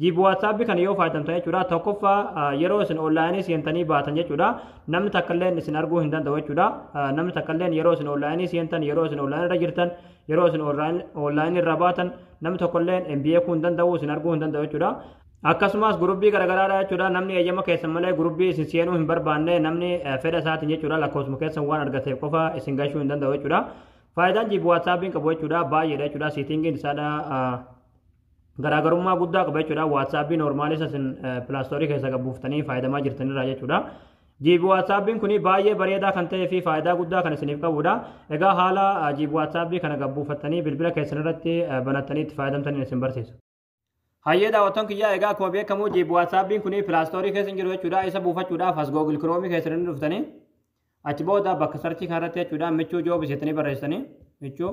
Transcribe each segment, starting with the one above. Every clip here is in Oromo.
Jiib WhatsApp kana yoo fayyadamtan jechuudha tokkoffaa yeroo isin onlaayinii seentanii baatan jechuudha namni takkalleen isin arguu hin danda'u jechuudha namni takkalleen yeroo isin onlaayinii seentan yeroo isin onlaayinii irra jirtan yeroo isin onlaayinii irra baatan namni tokkolleen hin beekuu hin danda'u isin arguu hin danda'u jechuudha. Akkasumas gurubbii garaagaraadha jechuudha namni eeyyama keessan malee gurubbii isin seenuu hin barbaanne namni fedha isaatiin jechuudha lakkoofsuma keessan waan argateef qofa isin gashuu hin danda'u jechuudha. Faayidaan jiib WhatsAppiin qabu jechuudha baay'eedha jechuudha siitingiin isaadha garaagarummaa guddaa qaba jechuudha. Waatsaappiin noormaalii isa isin pilaastoorii keessa gabbuuftanii fayyadamaa jirtanirraa jechuudha. Jiibi waatsaappiin kun baay'ee bareedaa kan ta'ee fi faayidaa guddaa kan isiniif qabudha. Egaa haala jiibi waatsaappii kana gabbuufattanii bilbila keessan irratti banattanii itti fayyadamtaniin isin barsiisa. Hayyee daawwattoon kiyyaa egaa akkuma beekamu jiibi waatsaappiin kun pilaastoorii keessa hin jiru jechuudha. Isa buufachuudhaaf as googil kiroomii keessan hin dhuftanii achi booda bakka sarchii kanarratti jechuudha michuu joobis jettanii barreessitanii michuu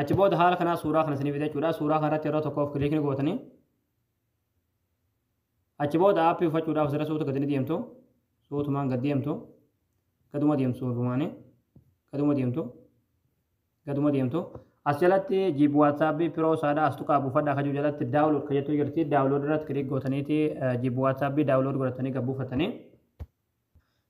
achi booda haala kanaa suuraa kana isiniif jechuudha suuraa kanarratti yeroo tokkoof kiliik ni gootanii achi booda aappii uffachuudhaaf sirra suuta gadi ni deemtu suutumaan gad deemtu gaduma deemtu suutumaanii gaduma deemtu gaduma deemtu as jalatti jiib waatsaappi piroo saadha as tuqaa buufadha kajuu jalatti daawulood ka jettuu jirti daawulood irratti kiliik gootaniiti jiib waatsaappi daawulood godhatanii gad buufatanii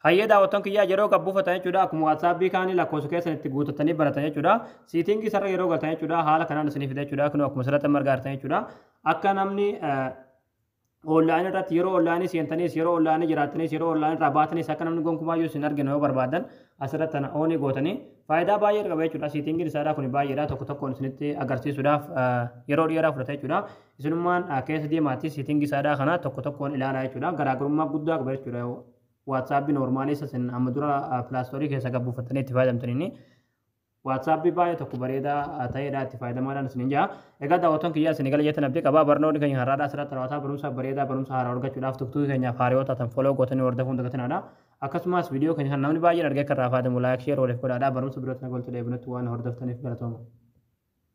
Hayyee daawwattoon kiyyaa yeroo gad buufatan jechuudha akkuma waatsaapii kaanii lakkoofsa keessan itti guutatanii baratan jechuudha siitingii sarara yeroo galtan jechuudha haala kanaan isinii fida jechuudha kun akkuma sarratti marga artan jechuudha akka namni online irratti yeroo online seentanis yeroo online jiraatanis yeroo online irraa baatanis akka namni gonkumaa yoo isin arginu yoo barbaadan asirratti tana oonii gootanii faayidaa baay'ee qaba jechuudha siitingiin isaadhaa kun baay'eedha tokko tokkoon isinitti agarsiisuudhaaf yeroo dheeraa fudhata jechuudha Isinummaan keessa deemaatii setting isaadhaa kana tokko tokkoon ilaalaa jechuudha. Garaagarummaa guddaa qaba jechuudha. WhatsApp normaalii isa isin amma dura Play Store keessa gad buufattanii itti fayyadamtan inni. WhatsApp baay'ee tokko bareedaa ta'eedha itti fayyadamaadhaan isin hin jaa. Egaa daawwattoon kiyyaa isin eegala jettan abdii qaba. Barnoonni keenya har'aadhaa asirratti raawwataa barumsa bareedaa barumsa haaraa argachuudhaaf tuktuu keenyaaf haariyoo taatan foloo gootanii hordofuu hin dagatinaadha. Akkasumas viidiyoo keenya kan namni baay'een argee kan irraa fayyadamu laayik sheer waliif godhaadha. Barumsa birootti nagaan walitti deebinutti waan hordoftaniif galatooma.